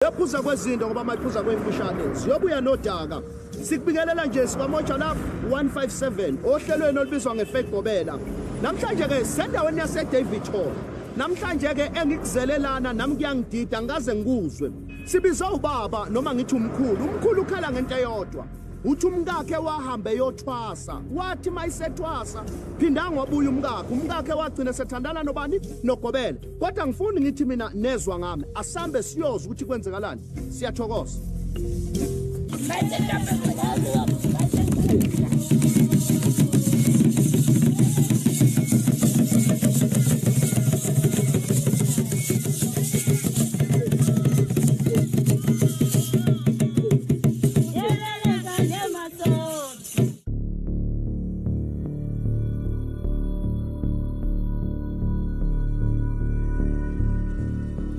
Yaphuza kwezinto ngoba mayiphuza kwemfushane ziyobuya nodaka. Sikubingelela nje sikamoja la 157 ohlelweni olubizwa ngeFake Gobela. Namhlanje ke sendaweni yase David Hall. Namhlanje ke engikuzelelana nami kuyangidida ngaze ngikuzwe. Sibiza ubaba noma ngithi umkhulu. Umkhulu ukhala ngento eyodwa. uthi umkakhe wahambe yothwasa wathi mayisethwasa phinda ngobuya umkakhe umkakhe wagcina sethandana nobani nogobela kodwa ngifuni ngithi mina nezwa ngami asambe siyoza ukuthi kwenzekalani siyathokoza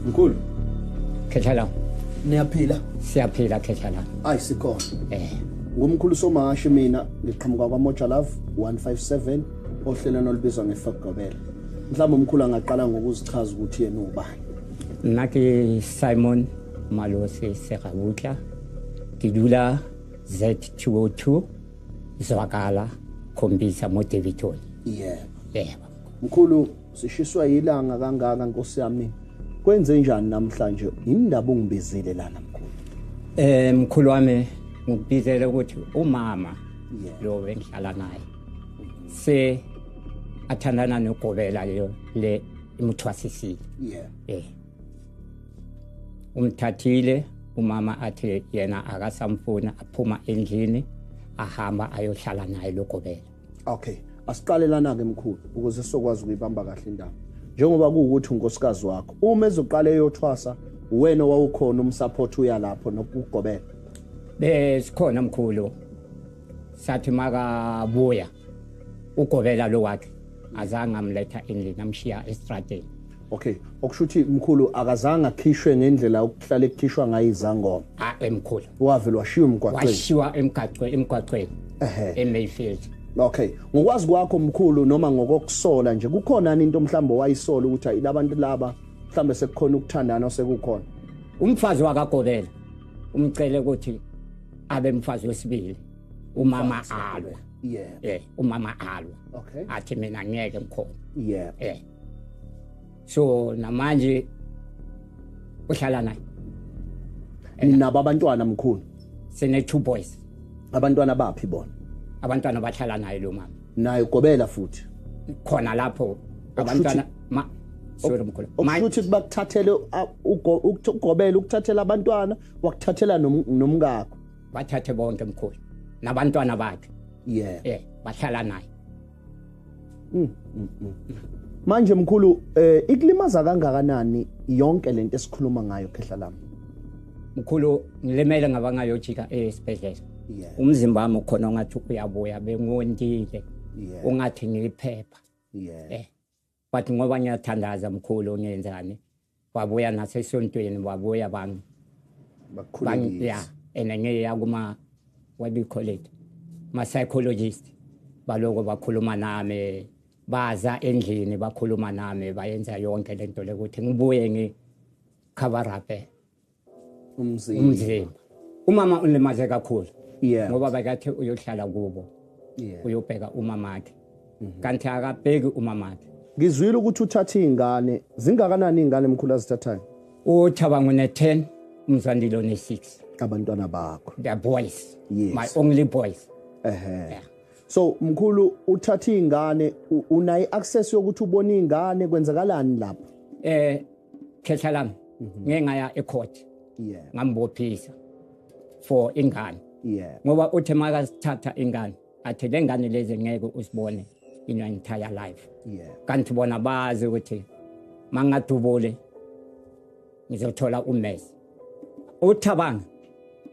mkhulu khetha la niyaphila siyaphila khetha la ayi sikhona eh ngumkhulu somashi mina ngiqhamuka kwamoja love 157 ohlelweni olubizwa ngefakugobela mhlawumbe umkhulu angaqala ngokuzichaza ukuthi yena ubani nna ke simon malosi segabutla ke dula Z202 Zwakala khombisa motivation. Yebo. Yebo. Mkhulu sishiswa yilanga kangaka Nkosi yami. Kwenze njani namhlanje? Indaba ungibizile lana mkhulu. Eh mkhulu wami ngikubizele ukuthi umama lo bengihlala naye. Se athandana nogobela leyo le imuthwasisile. Yeah. Eh. umthathile umama athi yena akasamfuni aphuma endlini ahamba ayohlala naye logobela okay asiqalelana-ke mkhulu ukuze sizokwazi ukuyibamba kahle indaba njengoba kuwukuthi unkosikazi wakho uma ezoqala eyothwasa uwena wawukhona umsaphothi uya lapho nokugobela besikhona mkhulu sathi makabuya ugobela lo wakhe azange amletha endlini amshiya estradeni okay okusho ukuthi mkhulu akazange akhishwe ngendlela okuhlale kukhishwa ngayo izangoma ah emkhulu wavele washiya umgwaqweni washiwa emgaqweni emgwaqweni ehe emayfield okay ngokwazi kwakho mkhulu noma ngokokusola nje kukhona into omhlawumbe wayisola ukuthi ayilabantu laba mhlawumbe sekukhona ukuthandana osekukhona umfazi wakagobela umcele ukuthi abe mfazi wesibili umama alwa yeah eh umama alwa okay athi mina ngeke ngikhona yeah eh so namanje uhlala naye ninabo abantwana mkhulu sine two boys abantwana baphi bona abantwana bahlala naye lo mama naye gobela futhi khona lapho abantwana ma sorry mkhulu ukuthi bakuthathele ukugobela ukuthathela abantwana wakuthathela nomkakho bathathe bonke mkhulu nabantwana bakhe yeah eh bahlala naye mm, mm, mm. manje mkhulu eh ikulimaza kangakanani yonke lento esikhuluma ngayo khehla lami mkhulu ngilimele ngabangayojika esibhedlela yeah. umzimba wami ukhona ongathi uyabuya bengondile yeah. ungathi ngiliphepha yeah. eh but ngoba ngiyathandaza mkhulu ngenzani wabuya nasesontweni wabuya bang bakhulekile yeah and ngiya kuma what do you call it ma psychologist baloko bakhuluma nami baza endlini bakhuluma nami bayenza yonke lento lekuthi ngibuye ngi cover up umzimba umzimba umama ulimaze kakhulu yeah ngoba bakathi uyohlala kubo yeah uyobheka umama wakhe mhm. kanti akabheki umama wakhe ngizwile ukuthi uthatha izingane zingakanani izingane mkhulu azithathayo uthabanga une 10 umzandile one 6 abantwana bakho the boys yes. my only boys ehe yeah. so mkhulu uthatha izingane unayi access yokuthi ubone izingane kwenzakalani lapho eh khehla lami mhm. ngeke ngaya ecourt yeah ngambophisa for ingane yeah ngoba uthe maka sithatha ingane athi le ngane lezi ngeke usibone in your entire life yeah kanti bona bazi ukuthi mangadubule ngizothola umesi uthabanga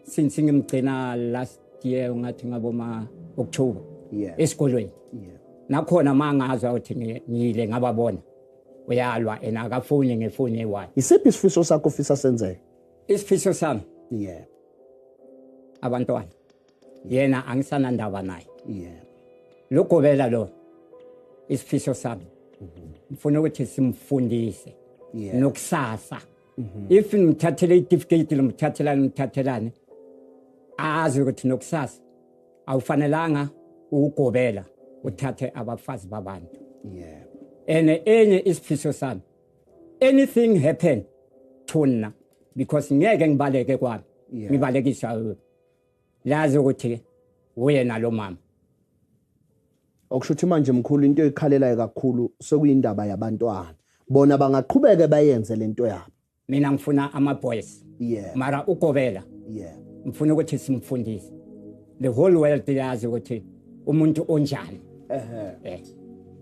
since ngimgcina last year ngathi ngaboma October yeah esikolweni yeah nakhona mangazwa ukuthi ngiyile ngababona uyalwa ena akafuni ngifuni why isiphi isifiso sakho ufisa senzeke isifiso sami yeah abantwana yena angisana ndaba naye yeah logobela lo isifiso sami mm-hmm. ngifuna ukuthi simfundise yeah. nokusasa mm -hmm. if ngimthathele itifiketi lomthathelane ngimthathelane azi ukuthi nokusasa awufanelanga ukugobela uthathe abafazi babantu yeah and enye isifiso sami anything happen thuna because ngeke ngibaleke kwami ngibalekiswa lazi ukuthi uyena lo mama okusho ukuthi manje mkhulu into ekhalelayo kakhulu sekuyindaba yabantwana bona bangaqhubeke bayenze lento yabo mina ngifuna ama boys yeah mara ukobela yeah ngifuna ukuthi simfundise the whole world yazi ukuthi umuntu onjani ehe eh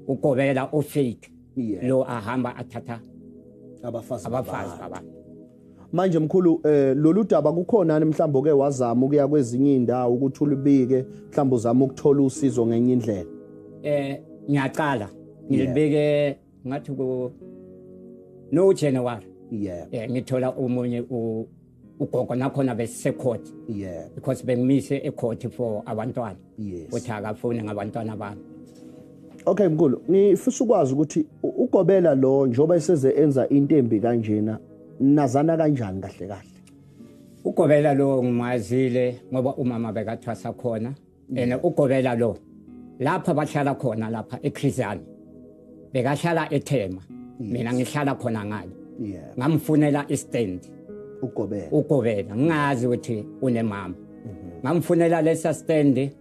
ukobela o fake yeah. lo ahamba athatha abafazi abafazi baba manje mkhulu eh lolu daba kukhona mhlawumbe ke wazama ukuya kwezinye indawo ukuthi ulibike mhlawumbe uzama ukuthola usizo ngenye indlela eh ngiyaqala ngilibike yeah. ngathi ku no January yeah eh ngithola umunye u ugogo nakhona besecourt yeah because bengimise ecourt for abantwana yes uthi akafuni ngabantwana bami Okay mkhulu ngifisa ukwazi ukuthi ugobela lo njoba eseze enza into embi kanjena nazana kanjani kahle kahle ugobela lo ngimazile ngoba umama bekathwasa khona yena ugobela lo lapha bahlala khona lapha ekhrizani bekahlala ethema mina ngihlala khona ngale ngamfunela istand ugobela ugobela ngingazi ukuthi unemama mhm. ngamfunela lesa stand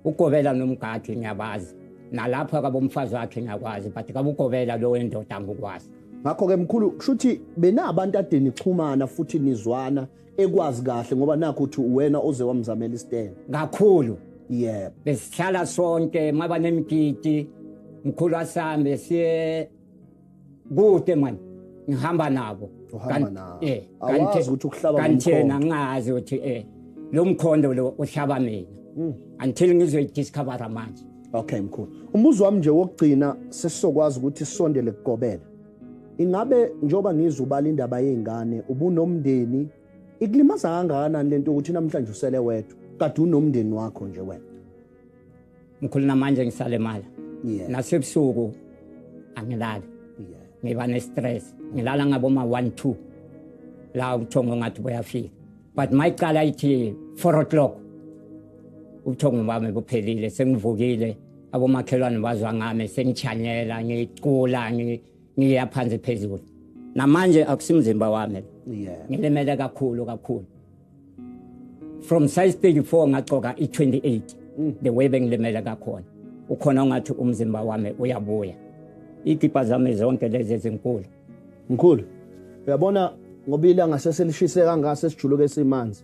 ugobela nomgadi ngiyabazi nalapha kabomfazi wakhe ngiyakwazi but kabugobela lo wendoda ngikwazi ngakho-ke mkhulu kusho ukuthi benabantu adeni xhumana futhi nizwana ekwazi kahle ngoba nakho uthi uwena oze wamzamela istand kakhulu yebo besihlala sonke maba nemgidi mkhulu asambe siye kude manje ngihamba nabo uhamba nabo eh kanti ukuthi ukuhlaba kanti yena ngazi ukuthi eh lo mkhondo lo uhlaba mina hmm. until ngizoyi discover manje okay mkhulu umbuzo wami nje wokugcina sesizokwazi ukuthi sisondele kugobela Ingabe njengoba ngizwa ubala indaba yezingane ubunomndeni ikulimaza kangakanani lento ukuthi namhlanje usele wedwa kade unomndeni wakho nje wena? Mkhulu namanje ngisale mali. Yeah. Nasebusuku angilali. Yeah. Ngiba ne stress. Ngilala ngabo ma 1 2. La uthongo ngathi boyafika. But my cala ithi 4 o'clock. Uthongo bami buphelile sengivukile. abomakhelwane bazwa ngami sengichanyela ngicula ngiya phansi phezulu namanje akusimzimba wami yeah. ngilimele kakhulu kakhulu from size 34 ngagcoka i-28 mm. the way bengilimele kakhona ukhona ungathi umzimba wami uyabuya igipa zami zonke lezi ezinkulu mkhulu uyabona ngoba ilanga seselishise kangase sijuluke simanzi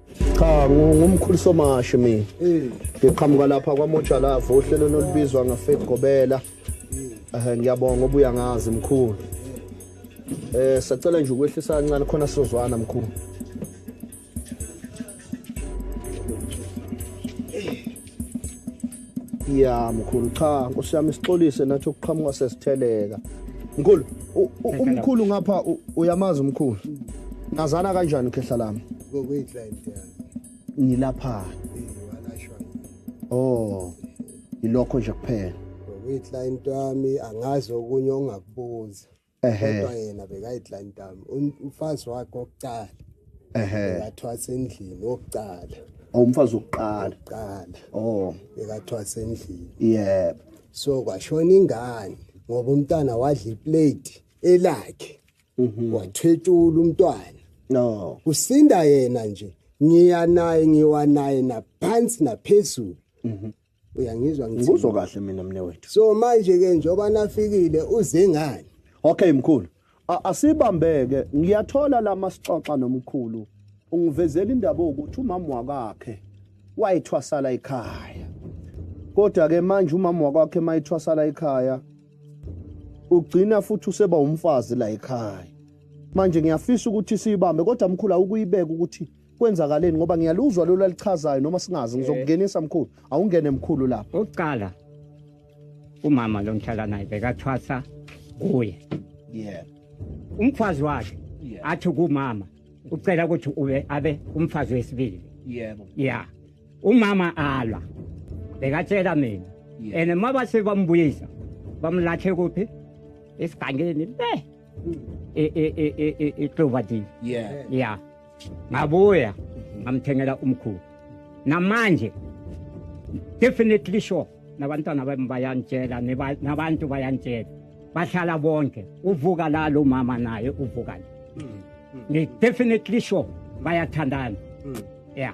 cha ngumkhulu somashi mina ngiqhamuka lapha kwamojalava uhlelo nolubizwa ngafaith gobela um ngiyabonga obuya ngazi mkhulu um sacela nje ukwehlisa kancane khona sizozwana mkhulu ya mkhulu cha nkosi yami sixolise nathi ukuqhamuka sesitheleka mkhulu umkhulu ngapha uyamazi umkhulu nazana kanjani khehla lami ngokuyiclient yani nilapha walashwa oh ilokho nje kuphela ngokuyiclient wami angazi okunye ongakubuza kodwa yena bekayidlantami umfazi wakhe wokucala bekathwasa endlini wokucala oh, umfazi wokuqala qala oh bekathwasa endlini yebo so kwashona ingane ngoba umntana wadla iplate elakhe mhm. wathwetshula umntwana no kusinda yena nje ngiya naye ngiwa naye naphansi naphezulu mhm. uyangizwa ngithini ngikuzwa kahle mina mne wethu so manje ke njoba nafikile uze ngani okay mkhulu asibambeke ngiyathola lama sixoxa nomkhulu ungivezela indaba ukuthi umama wakakhe wayithwasala ekhaya kodwa ke manje umama wakwakhe mayithwasala ekhaya ugcina futhi useba umfazi la ekhaya manje ngiyafisa ukuthi siyibambe kodwa mkhulu awukuyibeka ukuthi kwenzakaleni ngoba ngiyaluzwa lolu alichazayo noma singazi ngizokungenisa mkhulu awungene mkhulu lapho oqala umama lo ngihlala naye bekathwasa kuye yeah umfazi wakhe athi kumama ucela ukuthi ube abe umfazi wesibili yebo yeah umama alwa bekatshela mina and uma base bambuyisa bamlahle kuphi esigangeni le mm. e, e, e, iklovadini yeah yeah ngabuya ngamthengela umkhulu namanje definitely sure nabantwana bami bayantshela nabantu bayantshela bahlala bonke uvuka la lo mama naye uvuka nje hmm, hmm. ngi definitely sure bayathandana hmm. yeah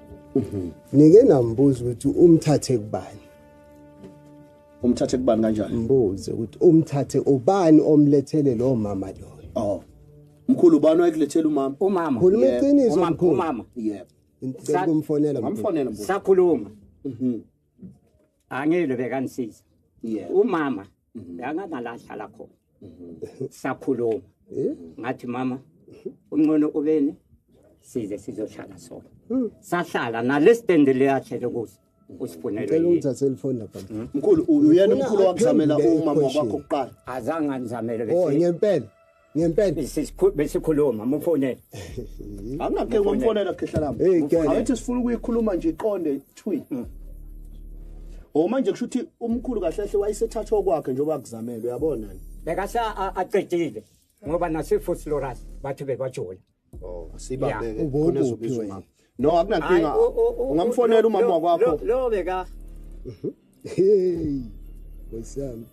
nike nambuza ukuthi umthathe kubani umthathe kubani kanjani mbuze ukuthi umthathe ubani omlethele lo mama lo oh mkhulu ubani oyikulethela umama umama khuluma iqiniso mkhulu umama yebo ngicela kumfonela ngamfonela mbuzo sakhuluma mhm angile bekanisiza yebo umama mhm. la ngangalahlala khona mhm. sakhuluma eh? ngathi mama uncono ubeni size sizohlala sona hmm. sahlala nalesitendi leyahlele kuso usifunele ukuthi aselifoni lapha hmm? mkhulu uyena umkhulu wakuzamela umama wakho kuqala azange anizamele bese oh ngempela ngempela Besisikhu- besikhuluma mufonele angingakhe ngomfonela khehla lami Hey, girl. awethi sifuna ukuyikhuluma nje iqonde thwi o manje kusho ukuthi umkhulu kahle kahle wayesethathwa okwakhe njengoba kuzamelwe yabona ni bekasa a- aqedile ngoba nasefoslorus bathi bebajola Oh, sibambe ke. Khona ezobizwa umama. No, akunankinga. Ungamfonela umama wakwakho. Lo beka. Mhm. Hey. Wesami.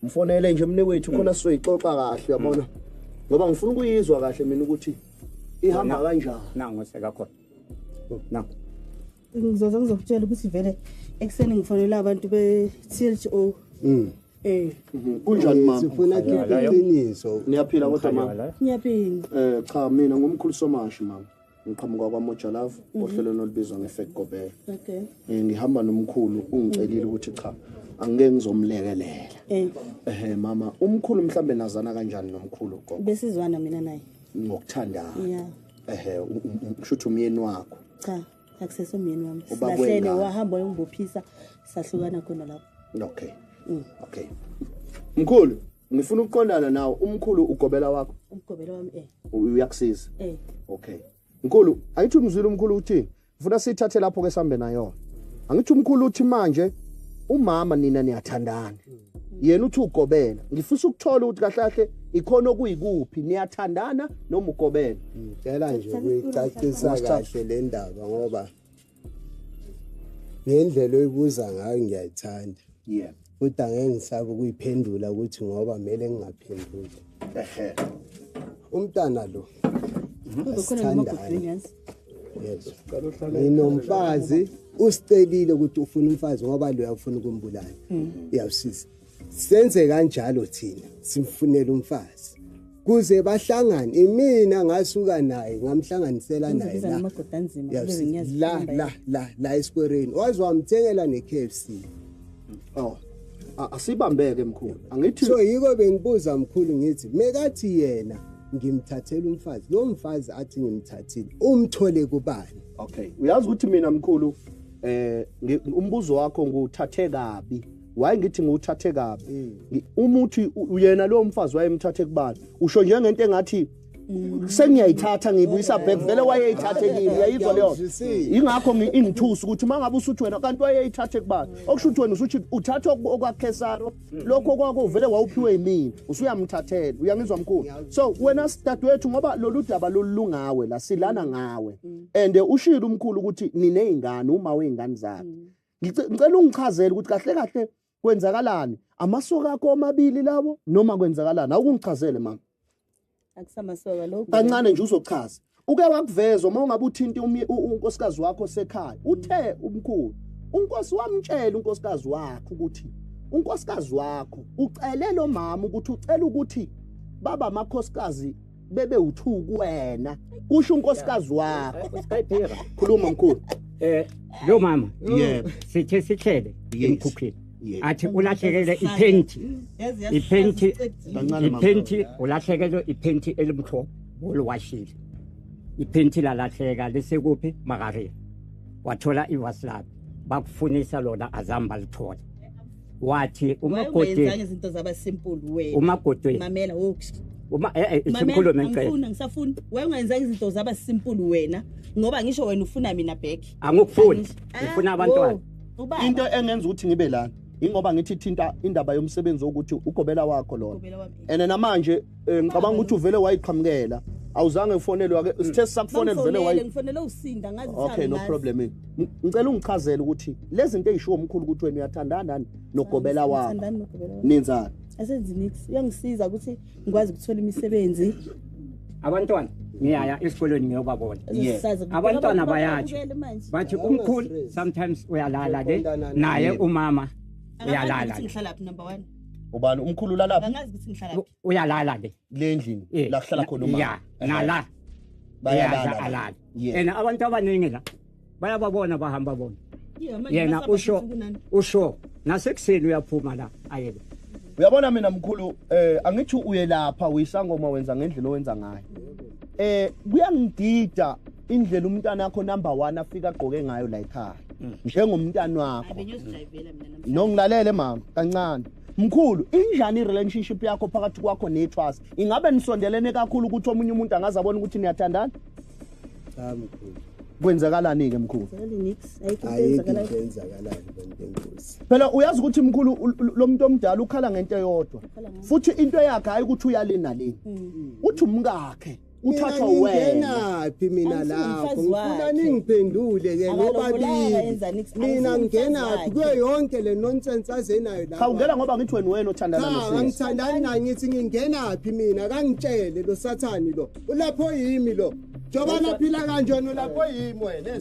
Mfonele nje mne wethu khona sizoyixoxa kahle yabona. Ngoba ngifuna ukuyizwa kahle mina ukuthi ihamba kanjani. Nangu sekakhona. Oh. Nangu. ngizoze ngizokutshela ukuthi vele ekuseni ngifonela abantu be-tho Mm. eh Mhm. kunjani mama Sifuna khipha iqiniso. niyaphila kodwa mama ngiyaphila Eh cha mina ngumkhulu somashi mama. Ngiqhamuka kwaMojalavu ohlelweni olubizwa ngeFake Gobela. okay Eh ngihamba nomkhulu ungicelile ukuthi cha angeke ngizomlekelela. eh Ehhe mama umkhulu mhlambe nazana kanjani nomkhulu gogo besizwana mina naye ngokuthandayo. yeah ehe ngisho ukuthi umyeni wakho cha akusese umyeni wami silahlene wahamba wayongibophisa sahlukana khona lapho okay mm. okay mkhulu ngifuna ukuqondana nawo umkhulu ugobela wakho umgobela wami eh uyakusiza eh okay mkhulu ayithi umzwile umkhulu uthini ngifuna sithathe lapho ke sambe nayo angithi umkhulu uthi manje umama nina niyathandana yena uthi ugobela ngifisa ukuthola ukuthi kahle kahle ikhona okuyikuphi niyathandana noma ugobela ngicela nje ukuyicacisa kahle le ndaba ngoba ngendlela oyibuza ngayo ngiyayithanda yeah Futhi angeke ngisabe ukuyiphendula ukuthi ngoba kumele ngingaphenduli. Ehhe. Umntana lo. Asithandane. Yes. Nginomfazi usicelile ukuthi ufuna umfazi ngoba lo uyafuna ukumbulala. Iyawusiza. Senze kanjalo thina simfunela umfazi. kuze bahlangane imina ngasuka naye ngamhlanganisela naye la la la la la esikwereni waze wamthengela ne KFC oh asibambeke mkhulu angithi so yiko bengibuza mkhulu ngithi mekathi yena ngimthathela umfazi lo mfazi athi ngimthathile umthole kubani okay uyazi ukuthi mina mkhulu eh umbuzo wakho nguthathe kabi waye ngithi ngiwuthathe kabi uma uthi uyena lowo mfazi wayemthathe kubani usho njengento engathi sengiyayithatha ngiyibuyisa back vele wayeyithathe kimi uyayizwa leyo ingakho ingithusa ukuthi uma ngabe usuthi wena kanti wayeyithathe kubani okusho ukuthi wena usuthi uthatha okwakhesaro lokho kwakuvele wawuphiwe yimina usuyamthathela uyangizwa mkhulu so wena sidadewethu ngoba lolu daba lolungawe la silana ngawe and ushilo umkhulu ukuthi niney'ngane uma wey'ngane zakhe ngicela ungichazele ukuthi kahle kahle kwenzakalani amasoka akho omabili lawo noma kwenzakalani awukungichazele mama akusamasoka lokho kancane nje uzochaza uke wakuveza uma ungabe uthinta unkosikazi wakho sekhaya uthe umkhulu unkosi wamtshela unkosikazi wakho ukuthi unkosikazi wakho ucele lo mama ukuthi ucela ukuthi baba amakhosikazi bebe uthu kuwena kusho unkosikazi wakho khuluma mkhulu eh lo mama yebo sithe sihlele emkhukhini athi ulahlekele iphenti iphenti iphenti ulahlekele iphenti elimhlophe oliwashile iphenti lalahleka lisekuphi makareni wathola ivasi lakhe bakufunisa lona azamba lithole wathi umakoti izinto zaba simple we umakoti mamela wokuthi uma eh, eh simkhulume ngicela ngifuna ngisafuna wayengenza izinto zaba simple wena ngoba ngisho wena ufuna mina back angikufuni ah, ngifuna abantwana into engenza ukuthi ngibe lana ingoba ngithi thinta indaba yomsebenzi ukuthi ugobela wakho lona and namanje Eh, ngicabanga ukuthi uvele wayiqhamukela awuzange ufonelwe ake hmm. sithe sakufonela uvele wayi ngifonele usinda ngazi okay no problem eh. ngicela ungichazele ukuthi lezi zinto ezishiwo umkhulu ukuthi wena uyathandana nani nogobela wakho ninzana asenzi nix uyangisiza ukuthi ngikwazi ukuthola imisebenzi abantwana ngiyaya esikolweni ngiyobabona abantwana bayatsho bathi umkhulu sometimes uyalala ke naye umama uyalala ubani umkhulu ulalaphi angazi ukuthi ngihlala phi uyalala le kule endlini Eh, la kuhlala khona na- ya umama nala bayalala Yadla alala Yeah. and abantu abaningi la bayababona bahamba bona Yeah, manje yena ngasaba usho ukuthi kunani. usho nasekuseni uyaphuma la ayeke uyabona mina mkhulu eh angithi uyelapha uyisangoma wenza ngendlela owenza ngayo eh kuyangidida indlela umntana wakho number 1 afika agqoke ngayo la ekhaya mm. njengomntana wakho nongilalele mama kancane mkhulu injani relationship yakho phakathi kwakho neTrust ingabe nisondelene kakhulu ukuthi omunye umuntu angaze abone ukuthi niyathandana cha mkhulu kwenzakalani ke mkhulu phela uyazi ukuthi mkhulu lo muntu omdala ukhala ngento eyodwa futhi into yakhe hayi ukuthi uyalina leni mm. uthi umkakhe mm. uthathwa wena phi mina lapho ngifuna ningiphendule ke nobabili mina ngingena phi kuyo yonke le nonsense azenayo la khawungena ngoba ngithi wena wena othandana nosisi cha ngithandani naye ngithi ngingena phi mina kangitshele lo sathani lo ulapho yimi lo njengoba naphila kanjena ulapho yimi wena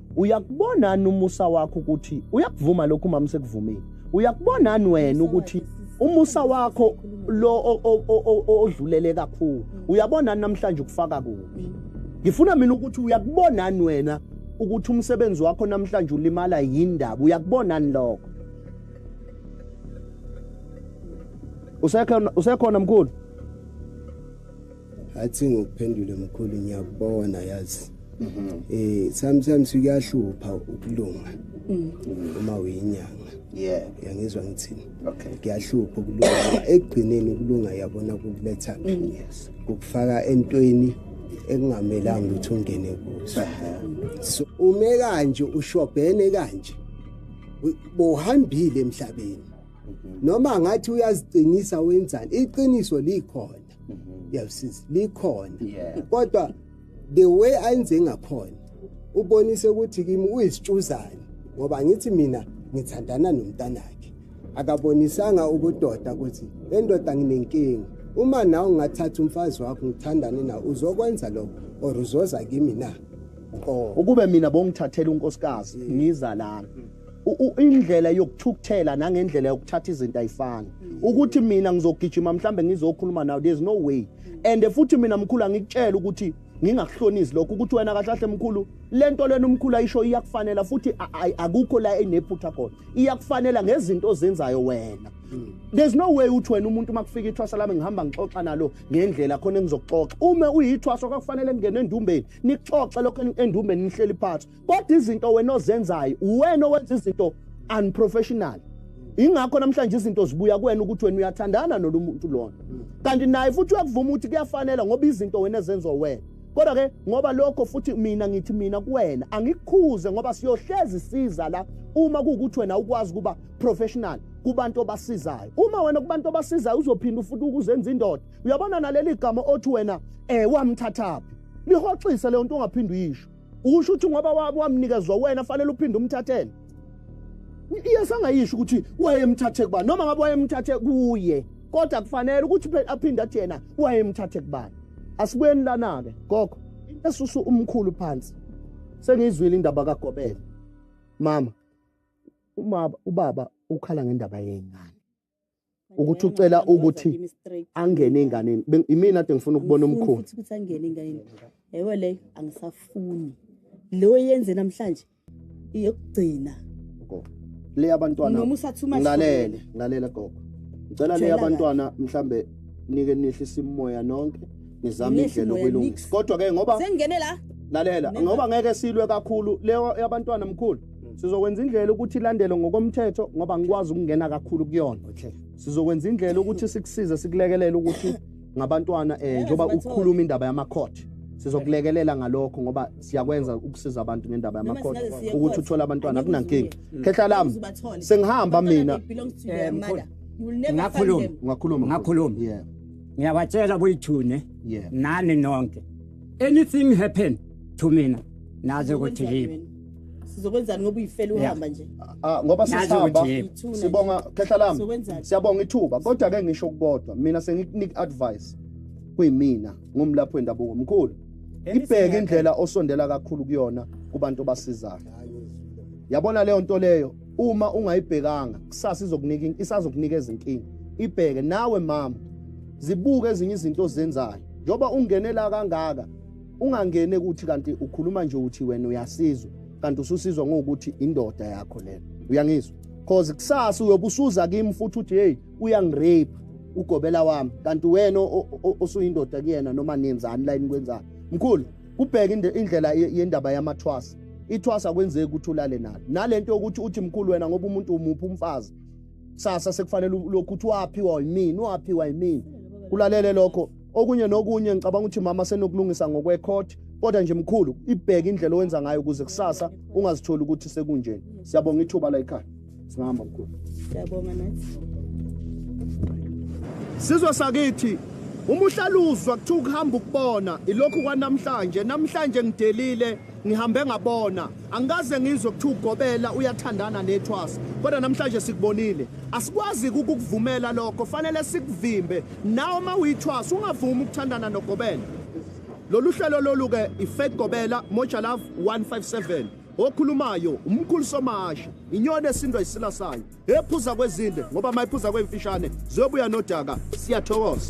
uyakubonani umusa wakho ukuthi uyakuvuma lokhu mama sekuvumile uyakubonani wena ukuthi umusa wakho lo odlulele kakhulu uyabona namhlanje ukufaka kuphi ngifuna mina ukuthi uyakubonani wena ukuthi umsebenzi wakho namhlanje ulimala yindaba uyakubonani lokho usekhona usekhona mkhulu athi ngokuphendule mkhulu ngiyakubona yazi mhm. eh sometimes kuyahlupha ukulunga mm. uma uyinyanga yeah yangizwa ngithini okay kuyahlupha ukulunga ekugcineni ukulunga yabona kukuletha mm. yes ukufaka entweni ekungamelanga ukuthi ungene kuso so ume kanje ushobhene kanje bohambile emhlabeni mhm. noma ngathi uyaziqinisa wenzani iqiniso likhona mm -hmm. yeah, since likhona yeah. kodwa the way ayenze ngakhona ubonise ukuthi kimi uyisitshuzane ngoba ngithi mina ngithandana nomntanakhe akabonisanga ukudoda ukuthi endoda nginenkinga uma nawe ungathatha umfazi wakho ngithandane nawe uzokwenza lokho or uzoza kimi na ukube mina bongithathela unkosikazi ngiza lana indlela yokuthukuthela nangendlela yokuthatha izinto ayifani ukuthi mina ngizogijima mhlambe ngizokhuluma nawe there's no way and futhi mina mkhulu angikutshela ukuthi ngingakuhlonisi lokho ukuthi wena kahle kahle mkhulu lento lena umkhulu ayisho iyakufanela futhi akukho la enephutha khona iyakufanela ngezinto ozenzayo wena hmm. there's no way uthi wena umuntu makufika ithwasa lami ngihamba ngixoxa nalo ngendlela khona engizokuxoxa uma uyithwasa kwakufanele ngingene endumbeni nixoxe lokho endumbeni nihleli phansi kodwa izinto wena ozenzayo uwena owenza izinto unprofessional ingakho namhlanje izinto zibuya kuwena ukuthi wena uyathandana nolumuntu lona kanti naye futhi uyakuvuma ukuthi kuyafanela ngoba izinto wena ezenziwa wena kodwa ke ngoba lokho futhi mina ngithi mina kuwena angikukhuze ngoba siyohlezi siza la uma kuwukuthi wena ukwazi ukuba professional kubantu obasizayo uma wena kubantu obasizayo uzophinda futhi ukuzenza indoda uyabona naleli gama othi wena eh wamthathaphi lihoxise leyo nto ungaphindi uyisho ukusho ukuthi ngoba wamnikezwa wena fanele uphinde umthathele iyesangayisho ukuthi wayemthathe kubani noma ngabe wayemthathe kuye kodwa kufanele ukuthi aphinde athi yena wayemthathe kubani asibuyeni lana-ke gogo esusu umkhulu phansi sengiyizwile indaba kagobela mama umaba ubaba ukhala ngendaba yengane ukuthi ucela ukuthi angene enganeni imina ade ngifuna ukubona umkhulu futhi ukuthi angene enganeni yebo le angisafuni lo yenze namhlanje iyokugcina le abantwana noma usathuma ngalele ngalele gogo ngicela le abantwana mhlambe nike nihlisa imoya nonke nizame indlela okwelungisa kodwa ke ngoba sengene la lalela ngoba ngeke silwe kakhulu leyo yabantwana mkhulu Mm. sizokwenza indlela ukuthi ilandele ngokomthetho ngoba ngikwazi ukungena kakhulu kuyona okay sizokwenza indlela ukuthi sikusize sikulekelele ukuthi ngabantwana eh njoba ukukhuluma indaba yamacourt sizokulekelela ngalokho ngoba siyakwenza ukusiza abantu ngendaba yamacourt ukuthi uthole abantwana kunankingi khehla lami sengihamba mina ngakhuluma ngakhuluma ngakhuluma yeah ngiyabatshela kuyithune nani nonke anything happen to mina naze ukuthi yini sizokwenzani ngoba uyifela uhamba nje ah ngoba sisihamba sibonga khehla lami siyabonga ithuba kodwa ke ngisho ukubodwa mina sengikunika advice kuyimina ngumlapho wendabuko omkhulu ibheke indlela osondela kakhulu kuyona kubantu obasizayo yabona leyo nto leyo uma ungayibhekanga kusasa izokunika isazokunika izinkinga ibheke nawe mama zibuke ezinye izinto ozenzayo njoba ungenela kangaka ungangene ukuthi kanti ukhuluma nje uthi wena uyasizwa kanti ususizwa ngokuthi indoda yakho lena uyangizwa cause kusasa uyobusuza kimi futhi uthi hey uyangirape ugobela wami kanti wena osuyindoda kuyena noma nenzani la inikwenzani mkhulu kubheka indlela yendaba yamathwasa ithwasa kwenzeki ukuthi ulale nalo nalento yokuthi uthi mkhulu wena ngoba umuntu umuphi umfazi kusasa sekufanele lokhu uthi waphiwa yimini waphiwa yimini kulalele lokho okunye nokunye ngicabanga ukuthi mama senokulungisa ngokwekhoti kodwa nje mkhulu ibheke indlela owenza ngayo ukuze kusasa ungazitholi ukuthi sekunjeni siyabonga ithuba la ekhaya singahamba mkhulu siyabonga nathi sizwe sakithi uma uhlaluzwa kuthiwa ukuhamba ukubona ilokhu kwanamhlanje namhlanje ngidelile Ngihambe ngabona, angikaze ngizwe kuthiwa ugobela uyathandana nethwasa. Kodwa namhlanje sikubonile. Asikwazi ukukuvumela lokho, fanele sikuvimbe. Nawe uma uyithwasa ungavumi ukuthandana nogobela. Lolu hlelo lolu ke iFake Gobela Moja Love 157. Okhulumayo umkhulu somashi, inyoni esindwa isila sayo, ephuza kwezinde ngoba mayiphuza kwemfishane ziyobuya nodaka. Siyathokoza.